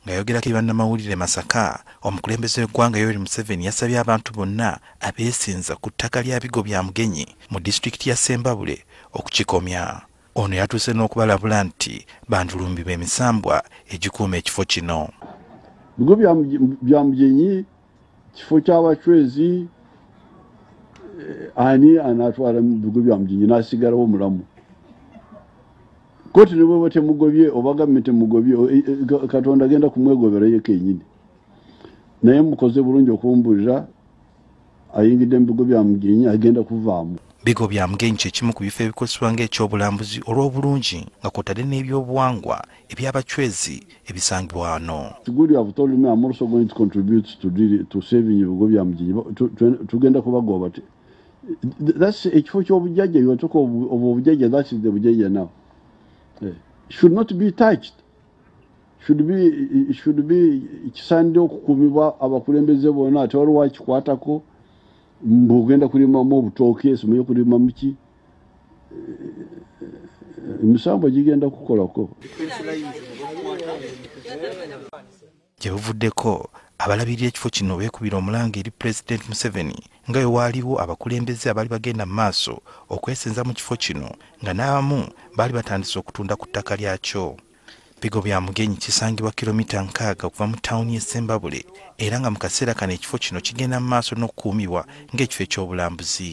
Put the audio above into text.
ng'ayogerako ebannamawulire masaka omukulembeze w'eggwanga yoweri museveni yasabye abantu bonna abeesinza ku ttaka lya bigo bya mugenyi mu disitulikiti ya sembabule okukikomya ono yatuuse n'okubalabula nti bandulumbibwa emisambwa egikuuma ekifo kino bigo bya mugenyi kifo ky'abacwezi eh, ani anatwala mu bigo bya mujinji n'asigalawo omulamu koti nebweba temugobye oba gavumenti emugobye eh, eh, katonda agenda kumwegobera ye kenyini naye mukoze bulungi okumbulira ayingidde mu bigo bya mugenyi agenda kuvaamu bigo bya mugenyi kyekimu ku bifo ebikozesebwa ng'ekyobulambuzi olw'obulungi nga kwotadde n'ebyobuwangwa eby'abacwezi ebisangibwa wano tugenda kubagoba ekifo ky'obujjajja yotuka obwo obujjajja that's the bujjajja now eh, should not be touched should be should be kisaanidde okukuumibwa abakulembeze bona ate waliwo akikwatako mbu ogenda kulimamu obutooke esimuye kulimamu ki emisango gigenda kukolako gye buvuddeko abalabirira ekifo kino beekubira omulanga eri pulezidenti museveni nga bwe waaliwo abakulembeze abaali bagenda mu maaso okwesenza mu kifo kino nga n'abamu baali batandise okutunda ku ttaka lyakyo bigo bya mugenyi kisangibwa kilomita nkaaga okuva mu tawuni y'e sembabule era nga mu kaseera kano ekifo kino kigenda mu maaso n'okukuumibwa ng'ekifo eky'obulambuzi